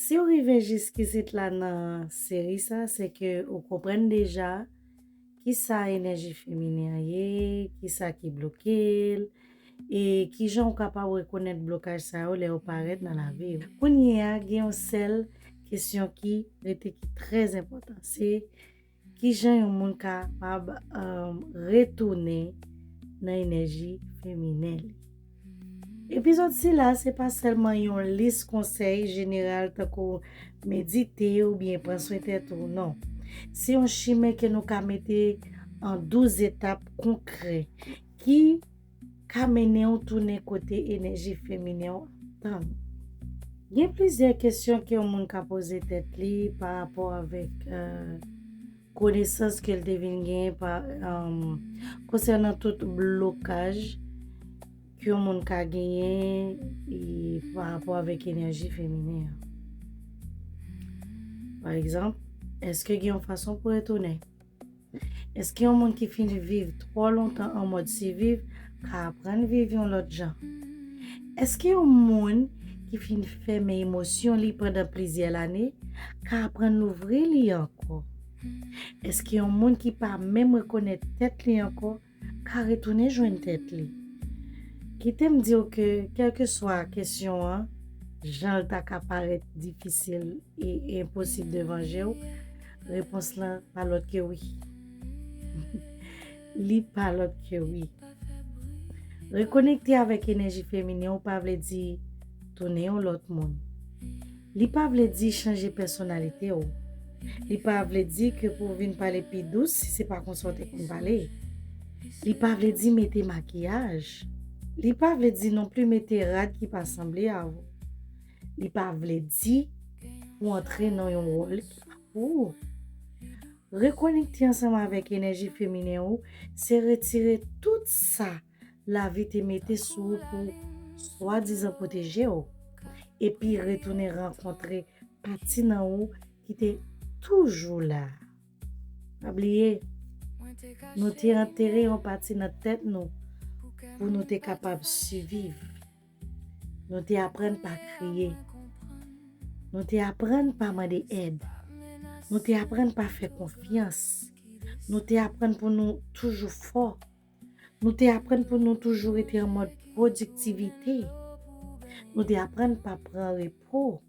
Siw rive jiskisit la nan seri sa se ke ou konprann deja kisa enèji feminen an ye, kisa ki blokel e kijan ou kapab rekonèt blokaj sa yo lè yo parèt nan laviw. Kounyea gen yon sèl kesyon ki rete ki trè enpòtan se Ki jan yon moun kapab retounen nan enèji feminen li? Epizòd sila se pa sèlman yon lis konsèy jeneral tankou medite oubyen pran swen tèt ou, non. Se yon chimen ke nou ka mete an 12 etap konkrè ki. ka mennen ou tounen kote enèji feminen an tann ou. Gen plizyè kesyon ke yon moun ka poze tèt li pa rapò avèk konesans ke l te vin genyen konsènan tout blokaj ke yon moun ka genyen pa rapò avèk enèji feminen an. Pa egzanp, èske gen yon fason pou retounen? Èske yon moun ki fin viv twò lontan an mòd siviv ka aprann viv yon lòt jan? Èske yon moun ki fin fèmen emosyon li pandan plizyè lane ka aprann louvri li ankò? Èske yon moun ki pa menm rekonèt tèt li ankò ka retounen jwenn tèt li. Kite m di w ke kèlkeswa kesyon an, jan l ta ka parèt difisil e enposib devan je w, repons la pa lòt ke wi. Li pa lòt ke wi. Rekonekte avèk enèji feminen w pa vle di tounen yon lòt moun. Li pa vle di chanje pèsonalite w. Li pa vle di ke pou w vin pale pi dous si se pa konsa w te konn pale. Li pa vle di mete makiyaj. Li pa vle di non pli mete rad ki pa sanble avw. Li pa vle di pou w antre nan yon wòl ki pa pou ou. Rekonekte ansanm avèk enèji feminen ou se retire tout sa. lavi te mete sou ou pou swadizan pwoteje ou, epi retounen rankontre pati nan ou ki te toujou la. Pa bliye, nou te antere yon pati nan tèt nou pou nou te kapab siviv. Nou te aprann pa kriye. Nou te aprann pa mande èd. Nou te aprann pa fè konfyans. Nou te aprann pou nou toujou fò. Nou te aprann pou nou toujou rete an mòd pwodiktivite. Nou te aprann pa pran repo.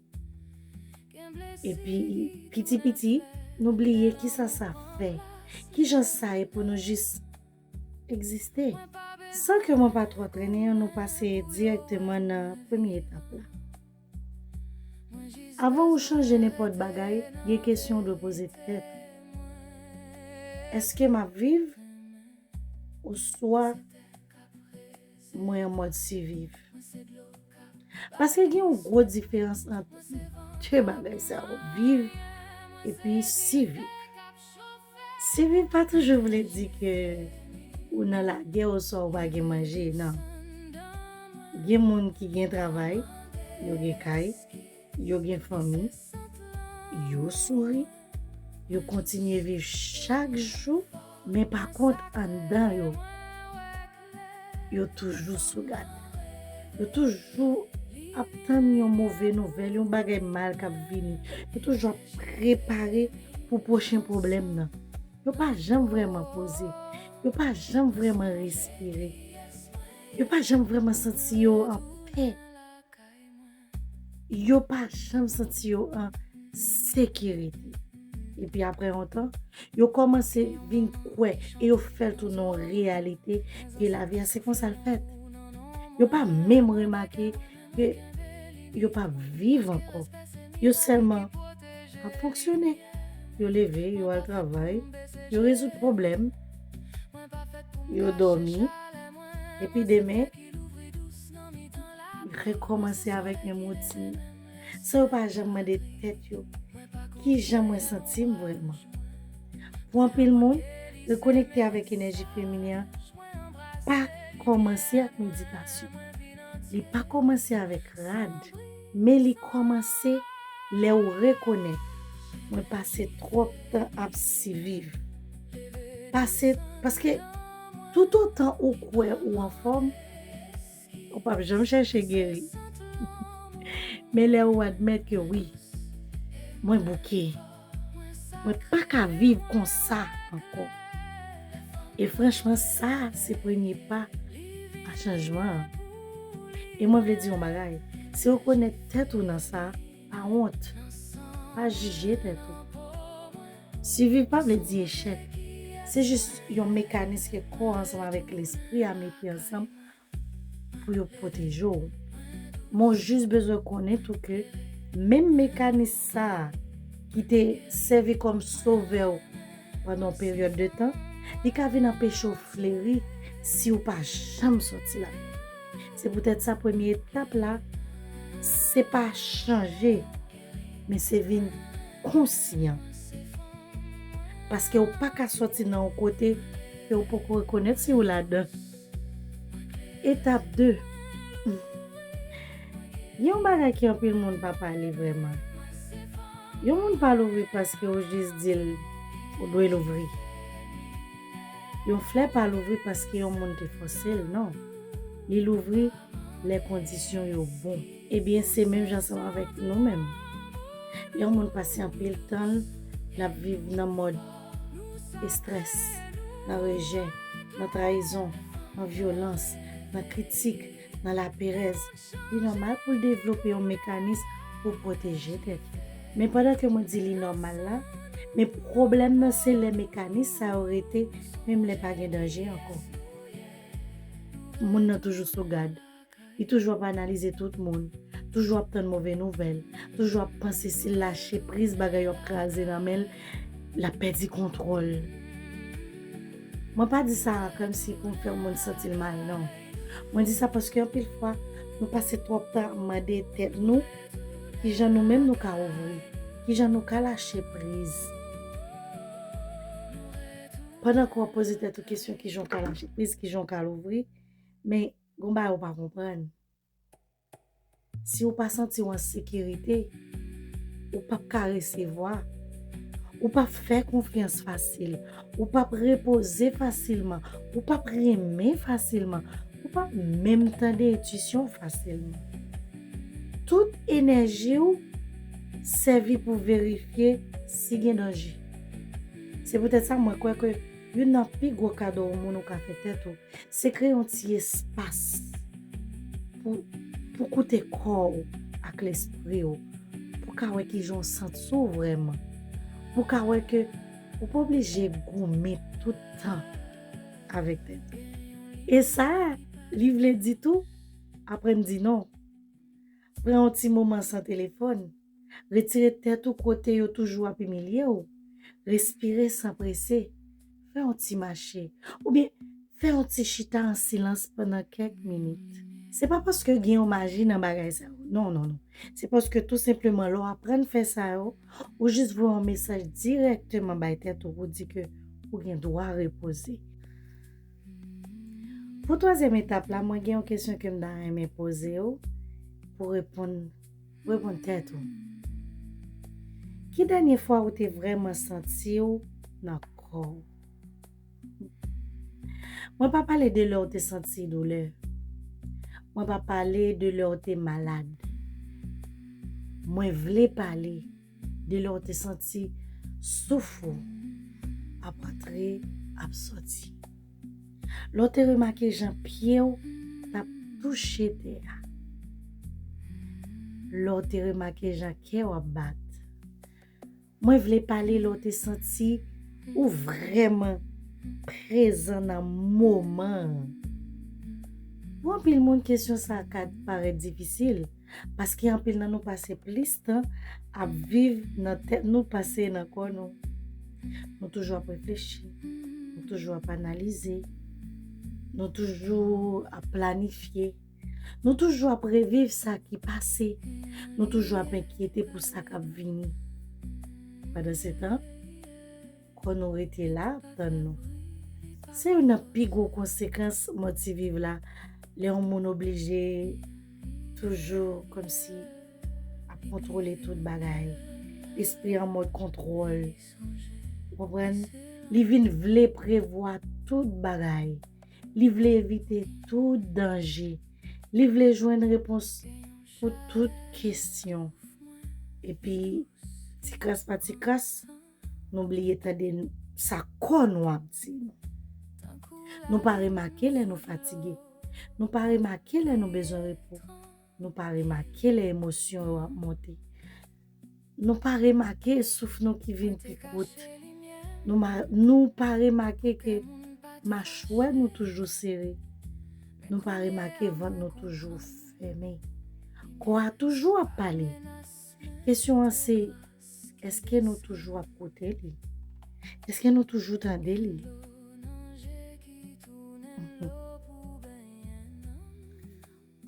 Epi, piti piti, nou bliye kisa sa fè. Kijan sa ye pou nou jis egziste. San ke mwen pa twò trennen, nou pase dirèkteman nan premye etap la. Avan ou chanje nenpòt bagay, gen kesyon ou dwe poze tèt ou, Èske m ap viv oswa mwen an mòd siviv? Paske gen yon gwo diferans ant de bagay sa yo, viv epi siviv. Siviv pa toujou vle di ke ou nan lagè oswa ou pa gen manje, nan. Gen moun ki gen travay, yo gen kay, yo gen fanmi, yo souri, yo kontinye viv chak jou, men pa kont anndan yo. Yo toujou sou gad. Yo toujou ap tann yon move nouvèl, yon bagay mal kap vini. Yo toujou ap prepare pou pwochen pwoblèm nan. Yo pa janm vreman poze. Yo pa janm vreman respire. Yo pa janm vreman santi yo anpè. Yo pa janm santi yo an sekirite. Epi apre yon tan, yo kòmanse vin kwè e yo fè l tounen yon reyalite ke lavi a se konsa l fèt. Yo pa menm remake ke yo pa p viv ankò. Yo sèlman ap fonksyone. Yo leve, yo al travay, yo rezoud pwoblèm, yo dòmi, epi demen, Rekòmanse avèk menm woutin nan, san yo pa janm mande tèt yo, Ki jan mwen santi m vrèman? Pou anpil moun, rekonekte avèk enèji feminen an pa kòmanse ak meditasyon. Li pa kòmanse avèk rad, men li kòmanse lè ou rekonèt, Mwen pase twòp tan ap siviv. Pase, paske. Toutotan ou kwè ou anfòm, ou p ap janm chèche geri. Men lè ou admèt ke wi, mwen bouke, mwen pa ka viv konsa ankò. E franchman sa se premye pa a chanjman an. E mwen vle di yon bagay, si ou rekonèt tèt ou nan sa, pa wont, pa jije tèt ou. Siviv pa vle di echèk. Se jis yon mekanis ke kò ansanm avèk lespri a mete ansanm pou yo pwoteje w. Men w jis bezwen konnen tou ke menm mekanis sa a ki te sèvi kòm sovè w pandan yon peryòd de tan, li ka vin anpeche w fleri si w pa janm sòti ladan l. Se poutèt sa premye etap la se pa chanje Men se vin konsyan. Paske ou pa ka soti nan yon kote ke ou poko rekonèt si ou ladan. Etap 2, Gen yon bagay ke anpil moun pa pale vrèman. Yon moun pa louvri paske ou jis di l ou dwe louvri. Yon flè pa louvri paske yon moun te fòse l non. Li louvri lè kondisyon yo bon. Ebyen se menm jan ansanm avèk nou menm. Lè yon moun pase anpil tan l l ap viv nan mòd estrès, nan rejè, nan trayizon, nan vyolans, nan kritik, nan laperèz, li nòmal pou l devlope yon mekanis pou pwoteje tèt li. Men pandan ke mwen di li nòmal la, men pwoblèm nan se lè mekanis sa yo rete menm lè pa gen danje ankò. Moun nan toujou sou gad, Li toujou ap analize tout moun, toujou ap tann move nouvèl, toujou ap panse si l lache priz bagay yo ap kraze nan men l, l ap pèdi kontwòl. Mwen pa di sa kòmsi pou m fè yon moun santi l mal non. Mwen di sa paske anpil fwa nou pase twòp tan ap mande tèt nou kijan nou menm nou ka ouvri, kijan nou ka lache priz. Pandan ke w ap poze tèt ou kesyon kijan w ka lache priz, kijan w ka louvri, men Gon bagay ou pa konprann. Si ou pa santi ou an sekirite, ou pap ka resevwa. Ou pap fè konfyans fasil. Ou pap repoze fasilman. Ou pap renmen fasilman. Ou pap menm tande entisyon fasilman. Tout enèji ou sèvi pou verifye si gen danje. Se poutèt sa mwen kwè ke. Youn nan pi gwo kado ou moun ou ka fè tèt ou, se kreye yon ti espas pou pou koute kò ou ak lespri ou, pou ka wè kijan ou santi w vrèman, pou ka wè ke ou pa oblije goumen tout tan avèk tèt ou. E sa li vle di tou, aprann di non. Pran yon ti moman san telefòn. Retire tèt ou kote yo toujou ap imilye w. Respire san prese. Fè yon ti mache. Oubyen fè yon ti chita an silans pandan kèk minit. Se pa paske gen yon maji nan bagay sa yo. Non, non, non. Se paske tou senpleman lè w aprann fè sa yo, ou jis voye yon mesaj dirèkteman bay tèt ou pou di ke ou gen dwa repoze. Pou twazyèm etap la mwen gen yon kesyon ke m ta renmen poze w pou reponn reponn tèt ou. Ki dènye fwa ou te vrèman santi w nan kò w? Mwen pa pale de lè w te santi doulè. Mwen pa pale de lè w te malad. Mwen vle pale. De lè w te santi souf ou ap antre ap soti. Lè w te remake jan pye w t ap touche tè a. Lè w te remake jan kè w ap bat. Mwen vle pale lè w te santi ou vrèman prezan nan moman an. Pou anpil moun kesyon sa ka parèt difisil. Paske anpil nan nou pase plis tan ap viv nan tèt nou pase nan kò nou. Nou toujou ap reflechi, nou toujou ap analize, nou toujou ap planifye, nou toujou ap reviv sa ki pase, nou toujou ap enkyete pou sa k ap vini. Padan se tan, Kò nou rete la ap tann nou. Se youn nan pi gwo konsekans mò ti viv la lè yon moun oblije toujou kòmsi ap kontwole tout bagay. Espri an mòd kontwòl. Ou konprann? Li vin vle prevwa tout bagay. Li vle evite tout danje. Li vle jwenn repons pou tout kesyon. Epi, tikras pa tikras. Nou bliye tande sa kò nou ap di nou. Nou pa remake lè nou fatige. Nou pa remake lè nou bezwen repo. Nou pa remake lè emosyon yo ap monte. Nou pa remake souf nou ki vin pi kout. Nou pa remake ke machwè nou toujou sere. Nou pa remake vant nou toujou fèmen. Kò a toujou ap pale. Kesyon an se. Eske nou toujou ap koute li? Eske nou toujou tande li?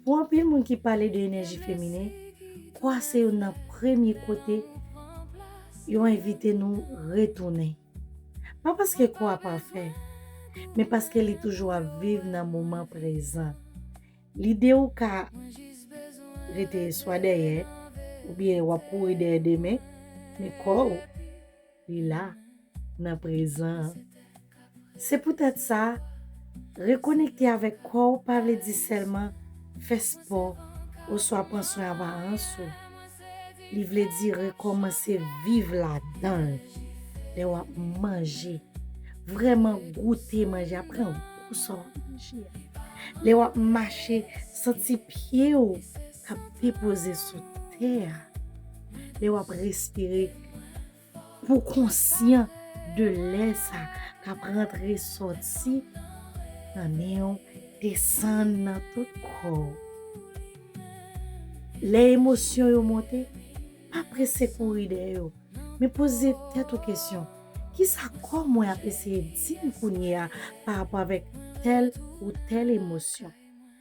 Pou anpil moun ki pale de enèji feminen, kwa se yon nan premye kote yo envite nou retounen. Pa paske kwa pafè, men paske li toujou ap viv nan moman prezan. Lide ou ka rete swa dèyè oubyen wap kouri dèyè demen men kò ou li la nan prezan an. Se poutèt sa, rekonekte avèk kò ou pa vle di sèlman fè spò oswa pran swen aparans ou. Li vle di rekòmanse viv ladan l. Lè w ap manje, vrèman goute manje a, pran gou sa w ap manje a. Lè w ap mache, santi pye w k ap depoze sou tè a. Lè w ap respire. Pou konsyan de lè sa kap rantre soti nan nen w desann nan tout kò w. Lè emosyon yo monte, pa prese kouri dèyè yo, men poze tèt ou kesyon, kisa kò mwen ap eseye di m kounye a pa rapò avèk tèl ou tèl emosyon?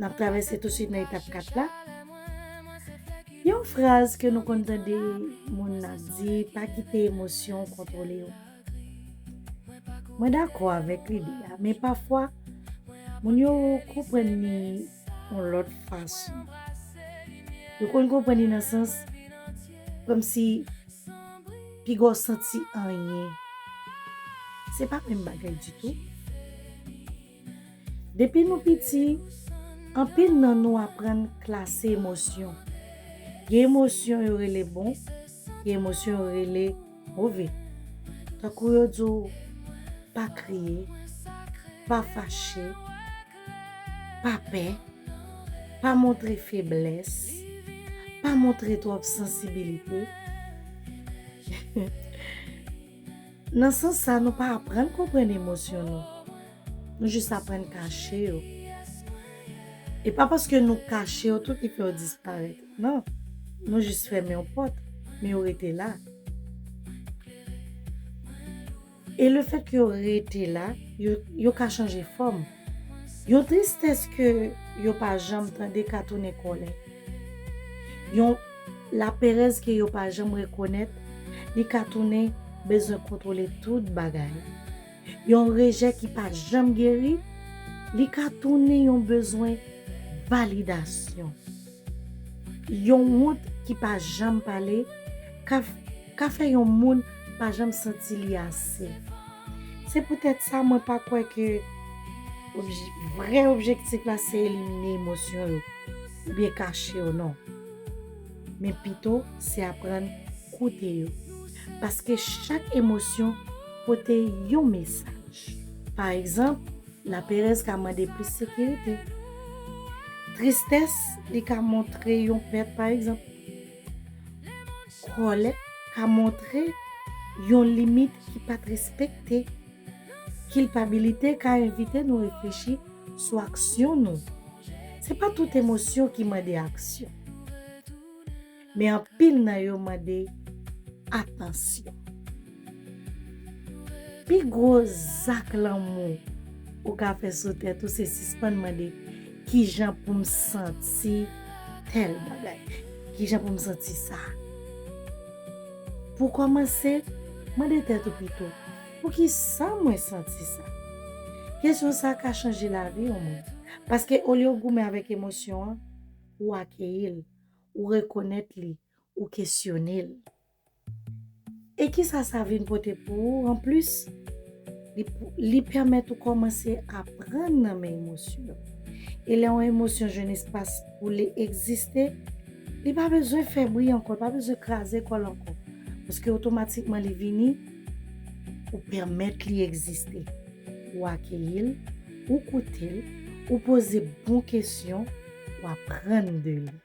N ap travèse tousuit nan etap 4 la. Gen yon fraz ke nou konn tande moun ap di, pa kite emosyon w kontwole w. Mwen dakò avèk lide a, men pafwa moun yo konprann li yon lòt fason. Yo konn konprann li nan sans kòmsi piga w santi anyen. Se pa menm bagay ditou. Depi nou piti, anpil nan nou aprann klase emosyon. Gen emosyon yo rele bon, gen emosyon yo rele move. Tankou yo di w pa kriye, pa fache, pa pè, pa montre feblès, pa montre twòp sansibilite. Nan sans sa nou pa aprann konprann emosyon nou, nou jis aprann kache yo. E pa paske nou kache yo tou ki fè yo disparèt, non, nou jis fèmen yon pòt, men yo rete la. E lefèt ke yo rete la, yo ka chanje fòm. Yon tristès ke yo pa janm tande ka tounen kòlè. Laperèz ke yo pa janm rekonèt li ka tounen bezwen kontwole tout bagay. Yon rejè ki pa janm geri li ka tounen yon bezwen validasyon. Yon wont ki pa janm pale ka ka fè yon moun pa janm santi li ase. Se poutèt sa mwen pa kwè ke vrè objektif la se elimine emosyon yo oubyen kache yo non. men pito se aprann koute yo. Paske chak emosyon pote yon mesaj. Pa egzanp, laperèz ka mande plis sekirite. Tristès li ka montre yon pèt pa egzanp. Kòlè ka montre yon limit ki pa t respekte. Kilpabilite ka envite nou reflechi sou aksyon nou. Se pa tout emosyon ki mande aksyon. Men anpil nan yo mande atansyon. Pi gwo zak lanmou ou ka fè sou tèt ou se sispann mande, Kijan pou m santi tèl bagay? Kijan pou m santi sa? Pou kòmanse, mande tèt ou pito, Poukisa mwen santi sa? Kesyon sa ka chanje lavi yon moun. Paske olye w goumen avèk emosyon an, ou akeyi l, ou rekonèt li, ou kesyone l. E kisa sa vin pote pou ou anplis? Li pèmèt ou kòmanse aprann nan men emosyon yo. E lè yon emosyon jwenn espas pou li egziste, li pa bezwen fè bri ankò, li pa bezwen kraze kò l ankò. Paske otomatikman li vini. Ou pèmèt li egziste. Ou akeyi l, ou koute l, ou poze bon kesyon, ou aprann de li.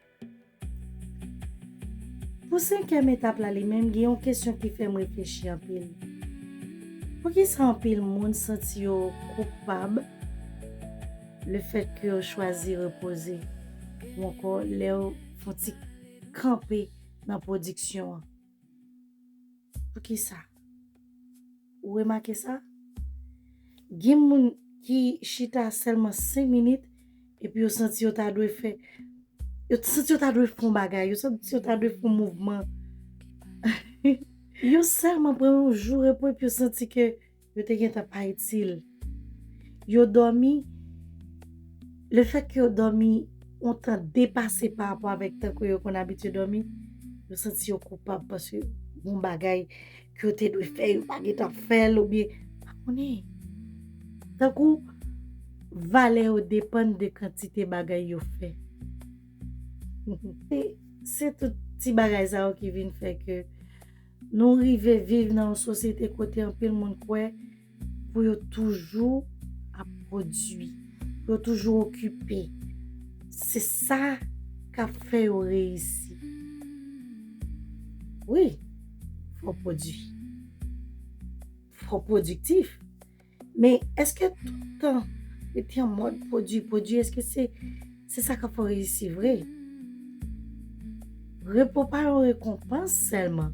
Pou senkyèm etap la li menm gen yon kesyon ki fè m reflechi anpil. Poukisa anpil moun santi yo koupab lefètke yo chwazi repoze ou ankò lè yo fon ti kanpe nan pwodiksyon an? Poukisa? Ou remake sa? Gen moun ki chita sèlman 5 minit epi yo santi yo ta dwe fè, yo santi yo ta dwe fè yon bagay, yo santi yo ta dwe fè yon mouvman. Yo sèlman pran yon jou repo epi yo santi ke. yo te gentan pa itil. Yo dòmi, le fèt ke yo dòmi yon tan depase pa rapò avèk tan ke yo konn abitye dòmi, yo santi yo koupab paske yon bagay ke yo te dwe fè yo pa gentan fèl oubyen, pa konnen. Tankou, valè yo depann de kantite bagay yo fè. Se tout ti bagay sa yo ki vin fè ke. Nou rive viv nan yon sosyete kote anpil moun kwè pou yo toujou ap pwodui, pou yo toujou okipe. Se sa k ap fè yo reyisi. Wi, fò w pwodui. Fò w pwodiktif. Men eske toutan rete an mòd pwodui, pwodui eske se sa kap fè w reyisi vre? Repo pa yon rekonpans sèlman,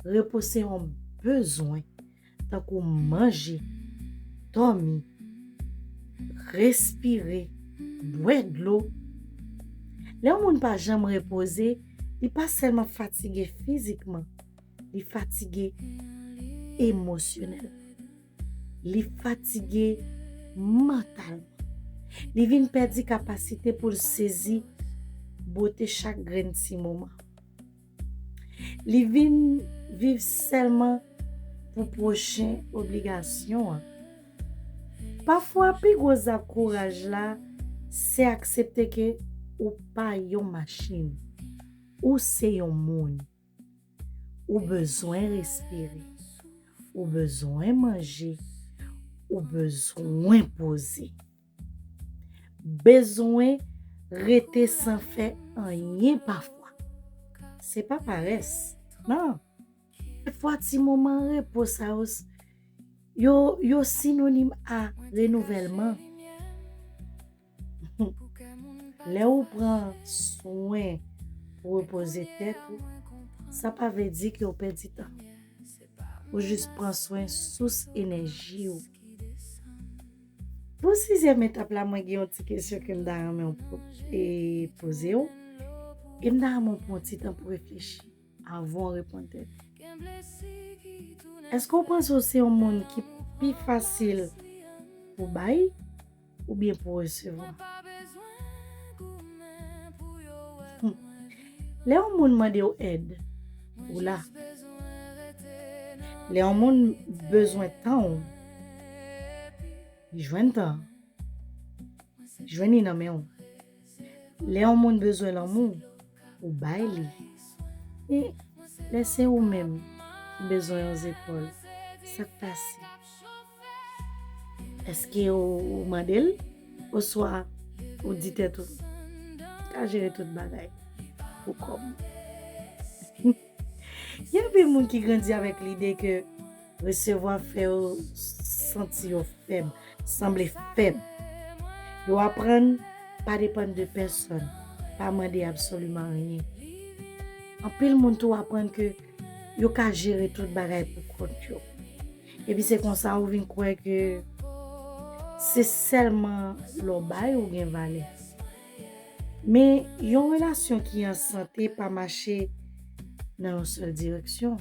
repo se yon bezwen tankou manje, dòmi, respire, bwè dlo. Lè yon moun pa janm repoze, li pa sèlman fatige fizikman, Li fatige emosyonèlman. Li fatige mantalman. Li vin pèdi kapasite pou l sezi bote chak grenn ti moman. Li vin viv sèlman pou pwochen obligasyon an. Pafwa pi gwo zak kouraj la se aksepte ke ou pa yon machin. Ou se yon moun. Ou bezwen respire. Ou bezwen manje. Ou bezwen poze. Bezwen rete san fè anyen pafwa. Se pa parès. Nan. Pafwa ti moman repo sa yo se. Yo sinonim a renouvèlman. Lè ou pran swen pou repoze tèt ou, sa pa vle di ke ou pèdi tan. Ou jis pran swen sous enèji ou. Pou sizyèm etap la mwen gen yon ti kesyon ke m ta renmen ou poze ou, e m ta renmen ou pran ti tan pou reflechi avan ou reponn tèt ou. Èske ou panse ou se yon moun ki pi fasil pou bay Ou byen pou resevwa. Lè yon moun mande w èd, ou la. Lè yon moun bezwen tan w, li jwenn tan an. Li jwenn li nan men w. Lè yon moun bezwen lanmou, ou bay li. Men, lè se ou menm ki bezwen yon zepòl, sa k pase? Èske ou mande l oswa ou di tèt ou, M ka jere tout bagay pou kò m? Gen anpil moun ki grandi avèk lide ke Resevwa fè yo santi yo fèb, sanble fèb. Yo aprann pa depann de pèsòn, pa mande absoliman anyen. Anpil moun tou aprann ke yo ka jere tout bagay pou kont yo. Epi se konsa ou vin kwè ke se sèlman lè w bay ou gen valè. Men, yon relasyon ki an sante pa mache nan yon sèl direksyon.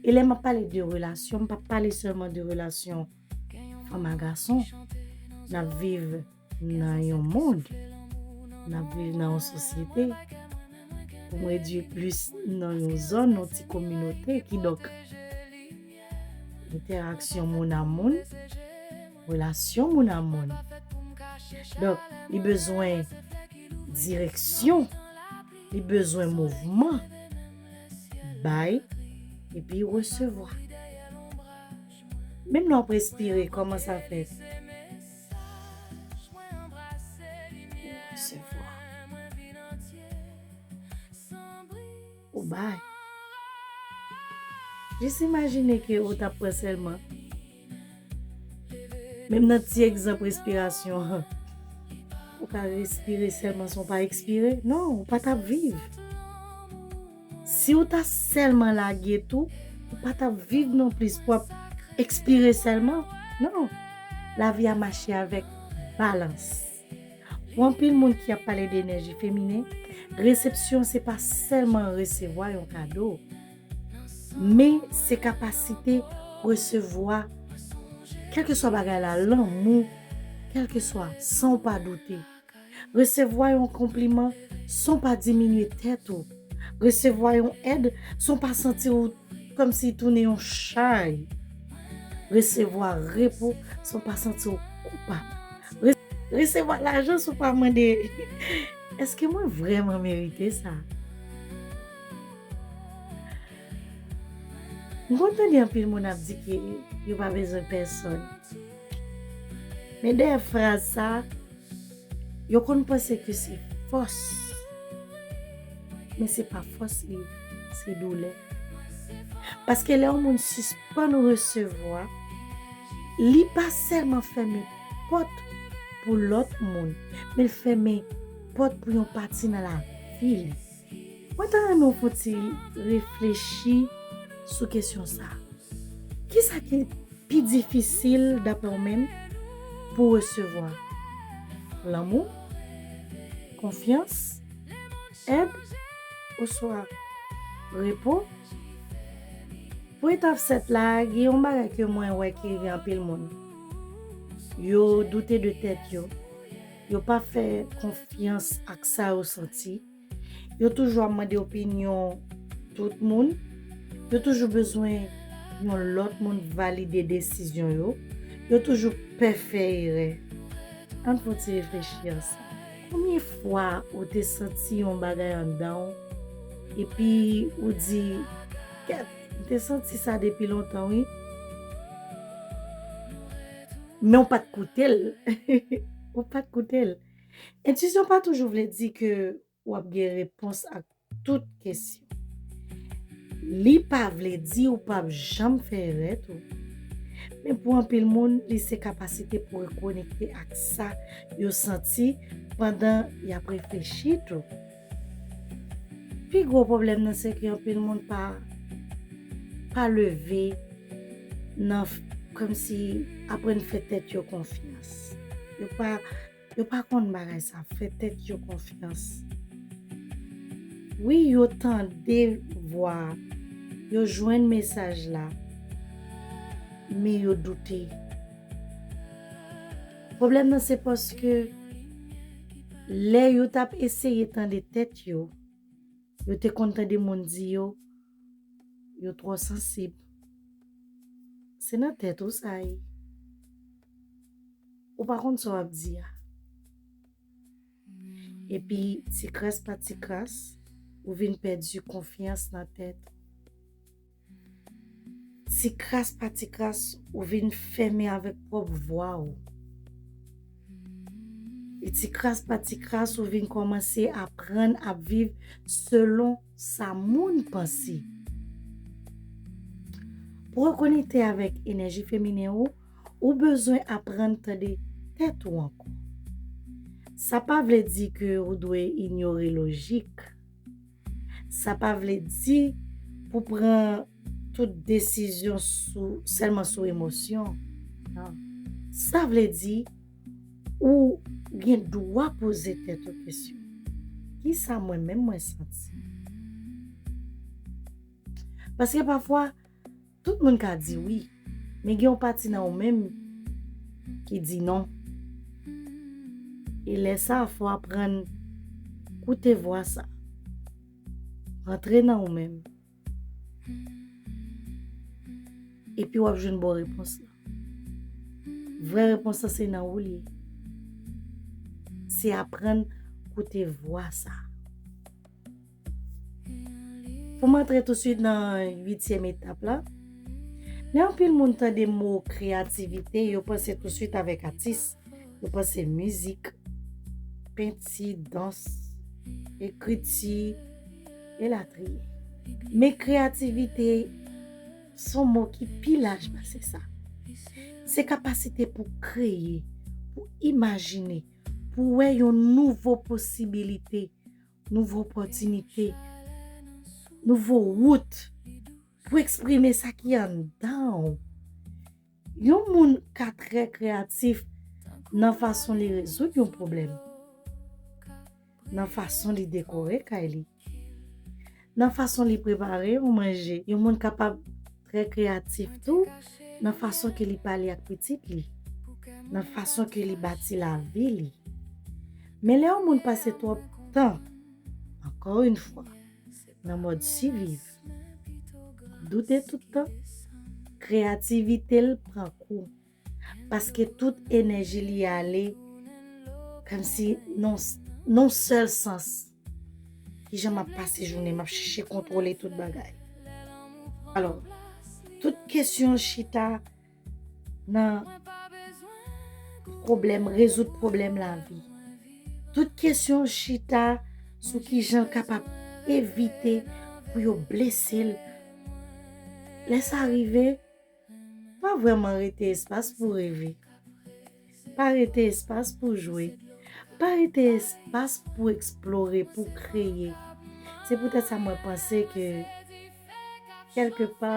E lè m ap pale de relasyon, m pa pale sèlman de relasyon fanm a gason. N ap viv nan yon mond, n ap viv nan yon sosyete, pou m redui plis nan yon zòn, yon ti kominote, kidonk. entèraksyon moun a moun, relasyon moun a moun. Donk, li bezwen direksyon, li bezwen mouvman, bay epi resevwa. Menm lè w ap respire, kòman sa fèt? Ou resevwa. ou bay. Jis imajine ke ou tap pran sèlman, menm nan ti egzanp respirasyon an, ou ka respire sèlman san w pa ekspire, non, ou pa tap viv. Si ou ta sèlman lage tou, ou pa tap viv non plis, pou ap ekspire sèlman, non. Lavi a mache avèk balans. Pou anpil moun ki ap pale de enèji feminen, resepsyon se pa sèlman resevwa yon kado, men se kapasite resevwa kèlkeswa bagay la, lanmou, kèlkeswa, san w pa doute. Resevwa yon konpliman san w pa diminye tèt ou. Resevwa yon èd san w pa santi w kòmsi tounen yon chay. Resevwa repo san w pa santi w koupab. Resevwa lajan san w pa mande, Èske mwen vrèman merite sa? M konn tande anpil moun ap di ke yo pa bezwen pèsòn. Men dèyè fraz sa a, Yo konn panse ke se fòs, men se pa fòs li ye, se doulè. Paske lè yon moun sispann resevwa, li pa sèlman fèmen pòt pou lòt moun, men l fèmen pòt pou yon pati nan lavi li. Mwen ta renmen w pran ti reflechi sou kesyon sa. Kisa ki pi difisil daprè w menm pou w resevwa? Lanmou? Konfyans? Èd? Oswa repo? Pou etap 7 la, gen yon bagay ke mwen wè ki rive anpil moun. Yo doute de tèt yo. Yo pa fè konfyans ak sa yo santi. Yo toujou ap mande opinyon tout moun. Yo toujou bezwen yon lòt moun valide desizyon yo. Yo toujou pè fè erè. An n fè yon ti reflechi ansanm. Konbyen fwa ou te santi yon bagay anndan w epi ou di, Kèt, m te santi sa depi lontan wi. Men w pa t koute l. Ou pa t koute l. Entwisyon pa toujou vle di ke w ap gen repons ak tout kesyon. Li pa vle di ou p ap janm fè erè tou. Men pou anpil moun, li se kapasite pou rekonekte ak sa yo santi pandan y ap reflechi tou. Pi gwo pwoblèm nan se ke anpil moun pa pa leve nan kòm si aprann fè tèt yo konfyans. Yo pa yo pa konn bagay sa fè tèt yo konfyans. Wi yo tande vwa, yo jwenn mesaj la men yo doute. Pwoblèm nan se paske lè yo t ap eseye tande tèt yo, yo te konn tande moun di yo, yo twò sansib. Se nan tèt ou sa ye. Ou pa konn sa w ap di a. Epi tikras pa tikras, ou vin pèdi konfyans nan tèt ou. Ti kras pa ti kras ou vin fèmen avèk pwòp vwa ou. E ti kras pa ti kras ou vin kòmanse aprann ap viv selon sa moun panse. Pou rekonekte avèk enèji feminen ou, ou bezwen aprann tande tèt ou ankò. Sa pa vle di ke ou dwe inyore lojik. Sa pa vle di pou pran tout desizyon sou sèlman sou emosyon. Non. Sa vle di ou gen dwa poze tèt ou kesyon. Ki sa mwen menm mwen santi? Paske pafwa Tout moun ka di wi, men gen yon pati nan ou menm ki di non. E lè sa a fò w aprann koute vwa sa a rantre nan ou menm epi w ap jwenn bon repons lan. Vrè repons lan se nan ou li ye. Se aprann koute vwa sa a. Pou m antre tousuit nan uityèm etap la, lè anpil moun tande mo kreyativite, yo panse tousuit avèk atis, yo panse mizik, penti, dans, ekriti, elatriye. Men kreyativite se yon mo ki pi laj pase sa. Se kapasite pou kreye, pou imajine, pou wè yon nouvo posibilite, nouvo opòtinite, nouvo wout pou eksprime sa ki anndan ou. Yon moun ka trè kreyatif nan fason li rezoud yon pwoblèm, nan fason li dekore kay li, Nan fason li prepare yon manje, yon moun kapab trè kreyatif tou nan fason ke li pale ak pitit li, nan fason ke li bati lavi li. Men lè yon moun pase twòp tan, ankò yon fwa, nan mòd siviv, doute tout tan, kreyativite l pran kou. Paske tout enèji li ale Kòm si non non sèl sans Kijan m ap pase jounen m ap chèche kontwole tout bagay Alò tout kesyon chita nan pwoblèm rezoud pwoblèm lavi Tout kesyon chita sou kijan l kapab evite pou yo blese l Lè sa rive Pa vrèman rete espas pou reve. Pa rete espas pou jwe. Pa rete espas pou eksplore, pou kreye. Se poutèt sa mwen panse ke kèlke pa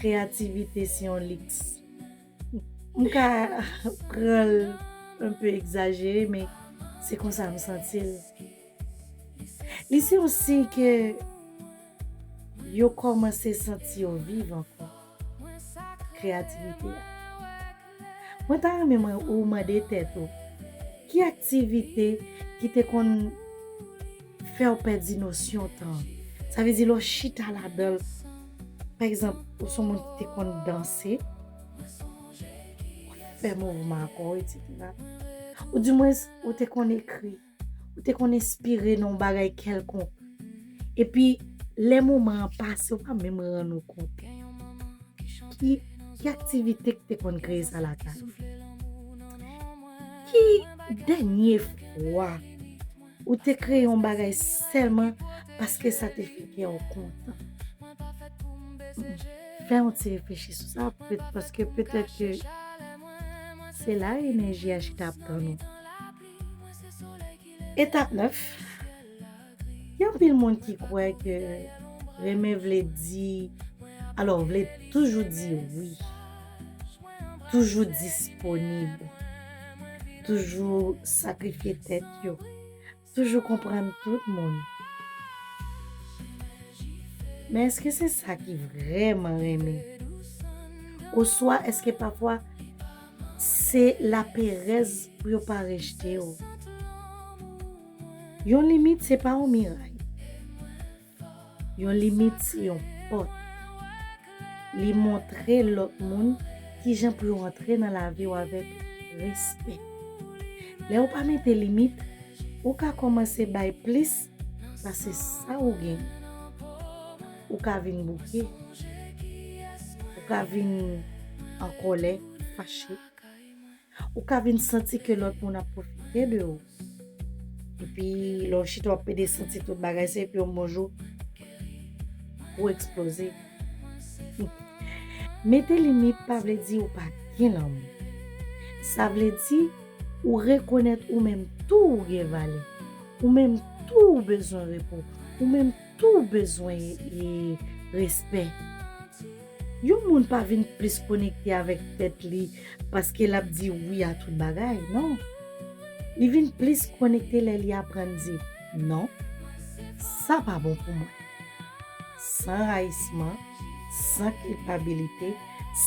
kreyativite se yon liks. M ka pran l enpe egzajere men se konsa m santi l. Li se yon siy ke. Yo kòmanse santi yo viv ankò. Kreyativite a. Mwen ta renmen mwen ou mande tèt ou, ki aktivite ki te konn fè w pèdi nosyon tan an? Sa vle di lè w chita ladan l, pa egzanp, ou son moun ki te konn danse, w ap fè mouvman kò w, eksetera. Ou dimwens ou te konn ekri. ou te konn enspire nan yon bagay kèlkonk, epi lè moman an pase ou pa menm rann ou kont. Ki aktivite ki te konn kreye sa lakay ou? Ki dènye fwa ou te kreye yon bagay sèlman paske sa te fè kè ou kontan? Fè yon ti reflechi sou sa, paske petèt ke se la enèji a chita ap tann ou. Etap 9 Gen anpil moun ki kwè ke renmen vle di alò vle toujou di wi, toujou disponib, toujou sakrifye tèt yo, toujou konprann tout moun. Men eske se sa ki vreman renmen? Oswa eske pafwa. Se laperèz pou yo pa rejte w. Yon limit se pa yon miray. Yon limit se yon pòt. Li montre lòt moun kijan pou yo antre nan lavi w avèk respè. Lè ou pa mete limit, ou ka kòmanse bay plis Pase sa ou gen. Ou ka vin bouke. Ou ka vin an kòlè, fache. Ou ka vin santi ke lòt moun ap pwofite de ou. Epi lè w chita w ap pede santi tout bagay se epi yon bon jou ou eksploze. Mete limit pa vle di ou pa gen lanmou. Sa vle di ou rekonèt ou menm tou ou gen valè. Ou menm tou ou bezwen repo. Ou menm tou ou bezwen respè. Yon moun pa vin plis konekte avèk tèt li paske l ap di wi a tout bagay, non. Li vin plis konekte lè li aprann di, non, sa pa bon pou mwen. San rayisman, san kilpabilite,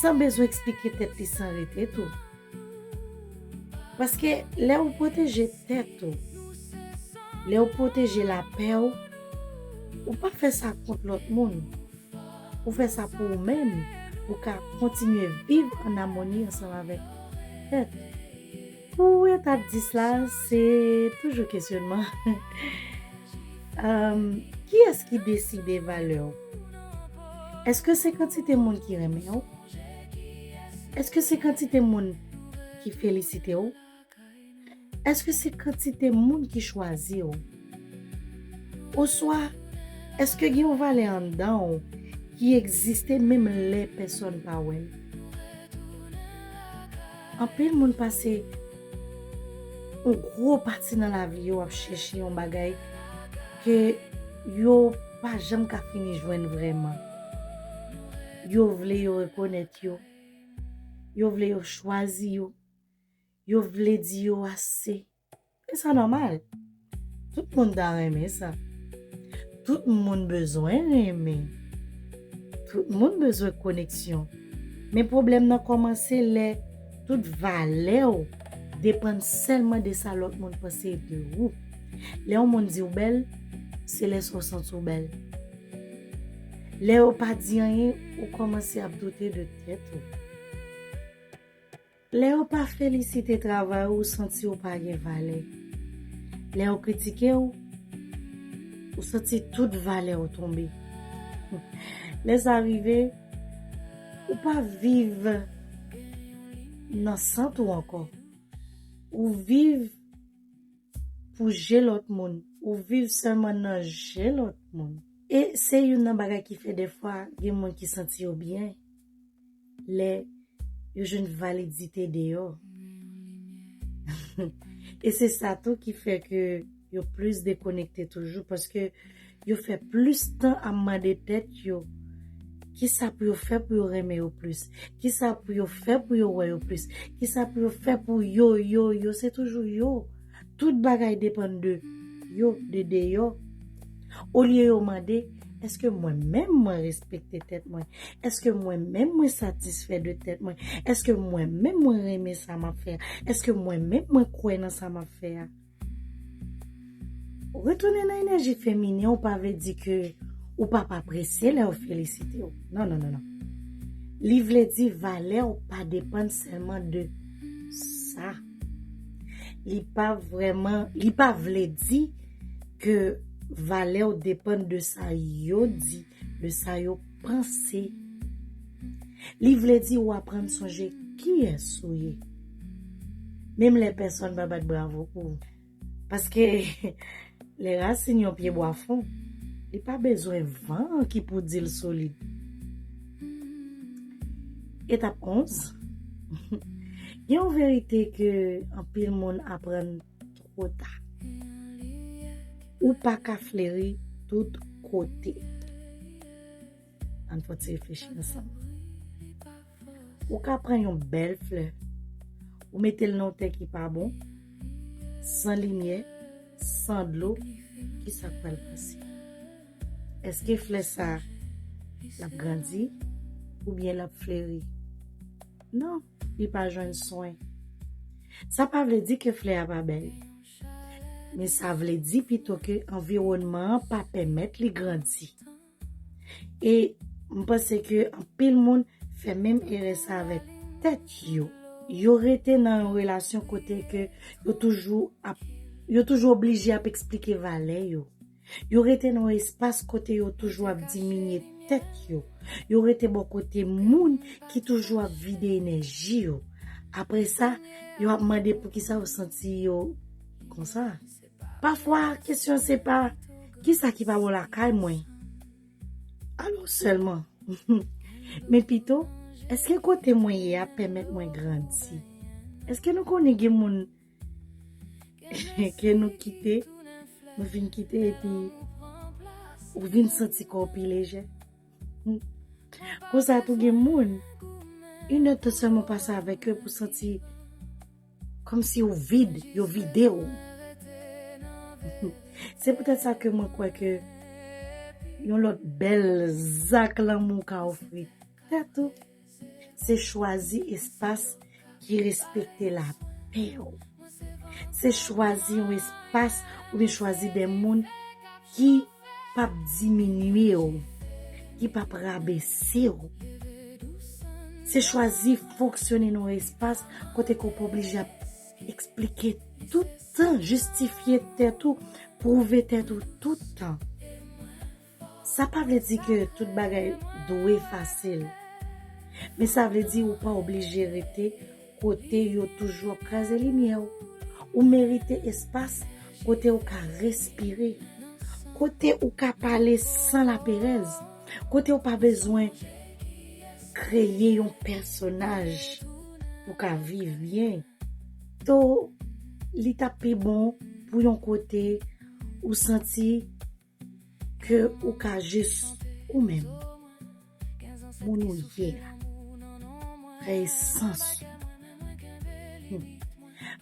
san bezwen eksplike tèt li san rete tou. Paske lè ou pwoteje tèt ou, lè ou pwoteje lapè ou, ou pa fè sa kont lòt moun, ou fè sa pou ou menm, pou ka kontinye viv an amoni ansanm avèk tèt ou. Pou etap 10 la, se toujou kesyonman, Kiyès ki deside valè ou? Èske se kantite moun ki renmen ou? Eske se kantite moun ki felisite w? Eske se kantite moun ki chwazi w? Oswa eske gen yon valè anndan w ki egziste menm lè pèsòn pa wè l? Anpil moun pase yon gwo pati nan lavi yo ap chèche yon bagay ke yo pa janm ka fini jwenn vrèman. Yo vle yo rekonèt yo. Yo vle yo chwazi yo. Yo vle di yo ase. E sa nòmal. Tout moun ta renmen sa. Tout moun bezwen renmen. Tout moun bezwen koneksyon. Men pwoblèm nan kòmanse lè tout valè ou depann sèlman de sa lòt moun panse de ou. Lè yon moun di ou bèl, se lè sa ou santi ou bèl. Lè yo pa di anyen, ou kòmanse ap doute de tèt ou. Lè yo pa felisite travay ou, ou santi ou pa gen valè. Lè yo kritike ou, ou santi tout valè ou tonbe. Lè sa rive, ou pa viv nan sant ou ankò. Ou viv. Pou je lòt moun. Ou viv sèlman nan je lòt moun. E se youn nan bagay ki fè dèfwa gen moun ki santi yo byen lè yo jwenn validite deyò. E se sa tou ki fè ke yo plis dekonekte toujou paske. Yo fè plis tan ap mande tèt yo kisa pou yo fè pou yo renmen yo plis, kisa pou yo fè pou yo wè yo plis, kisa pou yo fè pou yo, yo, yo, se toujou yo. Tout bagay depann de yo, de deyò. Olye yo mande, èske mwen menm mwen respekte tèt mwen? Èske mwen menm mwen satisfè de tèt mwen? Èske mwen menm mwen renmen sa m ap fè a? Èske mwen menm mwen kwè nan sa m ap fè a? Retounen nan enèji feminen w pa vle di ke ou p ap apresye lè yo felisite w. Non, non, non, non. Li vle di valè w pa depann sèlman de sa. Li pa vrèman, li pa vle di ke valè w depann de sa yo di. Le sa yo panse. Li vle di ou aprann sonje kiyès ou ye. Menm lè pèsonn pa bat bravo pou ou. Paske, lè rasin yon pyebwa fon, li pa bezwen van an ki pou di l solid. Etap 11, Gen yon verite ke anpil moun aprann twò ta. Ou pa ka fleri tout kote. Ann fè yon ti reflechi ansanm. Ou ka pran yon bèl flè, ou mete l nan yon tè ki pa bon, san limyè, san dlo, ki sa k pral pase? Eske flè sa a l ap grandi oubyen l ap fleri? Non. li pa jwenn swen. Sa pa vle di ke flè a pa bèl. Men sa vle di pito ke anviwònman an pa pèmèt li grandi. E m panse ke anpil moun fè menm erè sa avèk tèt yo. Yo rete nan yon relasyon kote ke yo toujou ap, yo toujou oblije ap eksplike valè yo. Yo rete nan yon espas kote yo toujou ap diminye tèt yo. Yo rete bò kote moun ki toujou ap vide enèji yo. Apre sa, yo ap mande poukisa yo santi yo konsa. Pafwa, kesyon se pa, Kisa ki pa bon lakay mwen? Alò sèlman. Men pito, Èske kote mwen ye a pèmèt mwen grandi? Èske nou konnen gen moun. Ke nou kite, nou fin kite epi ou vin santi kò w pi lejè. Konsa tou gen moun, yn èd tan sèlman pase avèk yo epi w santi kòm si ou vid, yo vide w. Se poutèt sa ke mwen kwè ke yon lòt bèl zak lanmou ka ofri tèt ou. Se chwazi espas ki respekte lapè w. Se chwazi yon espas oubyen chwazi de moun ki p ap diminye w, ki p ap rabese w. Se chwazi fonksyone nan yon espas kote ke w pa oblije ap eksplike tout tan, jistifye tèt ou, pwouve tèt ou tout tan. Sa pa vle di ke tout bagay dwe fasil. Men sa vle di ou pa oblije rete kote yo toujou ap kraze limyè w. Ou merite espas kote ou ka respire. Kote ou ka pale san laperèz. Kote ou pa bezwen kreye yon pèsonaj pou ka viv byen. To, li ta pi bon pou yon kote ou santi Ke ou ka jis ou menm, moun ou ye a, nan esans ou.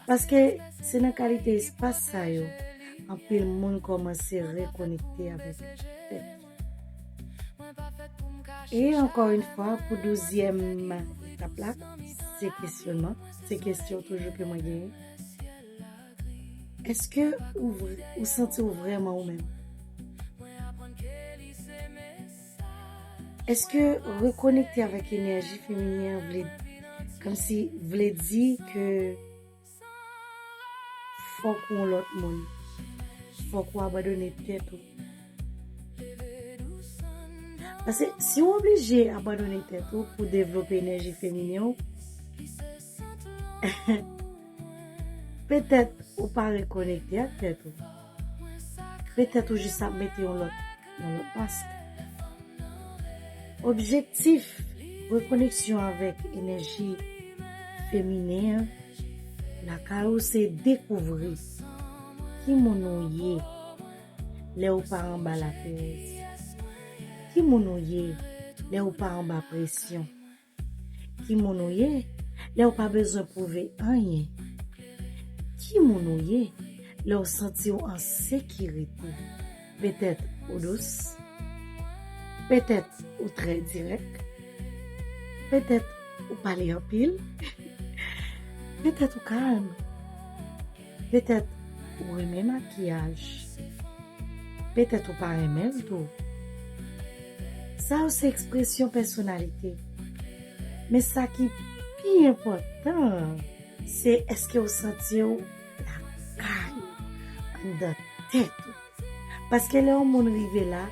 Paske se nan kalite espas sa yo anpil moun kòmanse rekonekte avèk tèt yo. E ankò yn fwa pou douzyèm etap la, se kesyonman, se kesyon toujou ke mwen genyen. Eske ou ou santi w vrèman ou menm? Eske rekonekte avèk enèji feminen an vle kòmsi vle di ke fòk ou yon lòt moun? Fòk ou abandone tèt ou? Pase si ou oblije abandone tèt ou pou devlope enèji feminen w, Petèt ou pa rekonekte ak tèt ou. Petèt ou jis ap mete yon lòt mask. Objektif rekoneksyon avèk enèji feminen an lakay ou se dekouvri ki moun ou ye lè ou pa anba laperèz, ki moun ou ye lè ou pa anba presyon. Ki moun ou ye lè ou pa bezwen pwouve anyen? Ki moun ou ye lè ou santi ou an sekirite? Petèt ou dous. Petèt ou trè dirèk. Petèt ou pale anpil. Petèt ou kalm. Petèt ou renmen makiyaj, petèt ou pa renmen l tou. Sa yo se ekspresyon pèsonalite. Men sa ki pi enpòtan an, se èske ou santi ou lakay ou, anndan tèt ou. Paske lè yon moun rive la,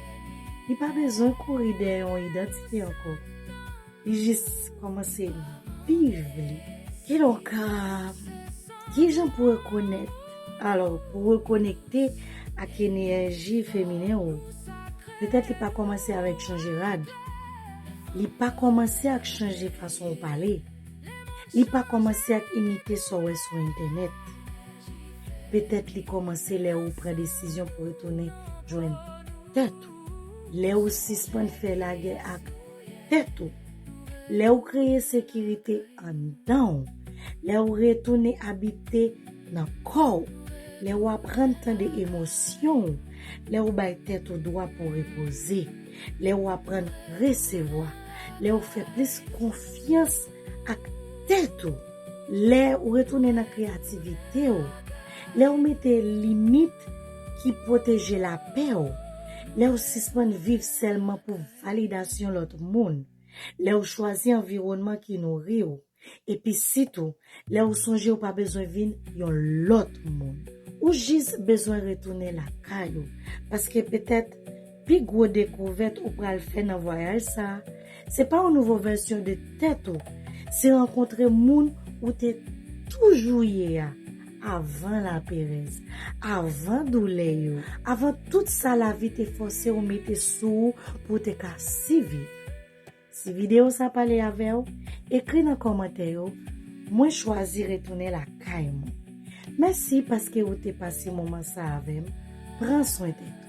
li pa bezwen kouri dèyè yon idantite ankò. Li jis kòmanse viv li. Kilè w ka Kijan pou rekonèt Alò, pou w rekonekte ak enèji feminen ou, petèt li pa kòmanse avèk chanje rad, li pa kòmanse ak chanje fason ou pale, li pa kòmanse ak imite sa w wè sou entènèt. Petèt li kòmanse lè ou pran desizyon pou retounen jwenn tèt ou, lè ou sispann fè lagè ak. tèt ou, lè ou kreye sekirite anndan ou, lè ou retounen abite nan kò ou, lè ou aprann tande emosyon ou, lè ou bay tèt ou dwa pou repoze, lè ou aprann resevwa, lè ou fè plis konfyans ak tèt ou, lè ou retounen nan kreyativite ou, lè ou mete limit ki pwoteje lapè ou, lè ou sispann viv sèlman pou. Validasyon lòt moun, Lè ou chwazi anviwònman ki nouri ou, epi sitou lè ou sonje ou pa bezwen vin yon lòt moun. Ou jis bezwen retounen lakay ou, paske petèt pi gwo dekouvèt ou pral fè nan vwayaj sa a, se pa yon nouvo vèsyon de tèt ou, se rankontre moun ou te toujou ye a. Avan laperèz, avan doulè yo, avan tout sa lavi te fòse ou mete sou ou pou w te ka siviv. Si videyo sa pale avè w, ekri nan kòmantè yo, Mwen chwazi retounen lakay mwen. Mèsi paske ou te pase moman sa avè m. Pran swen tèt ou.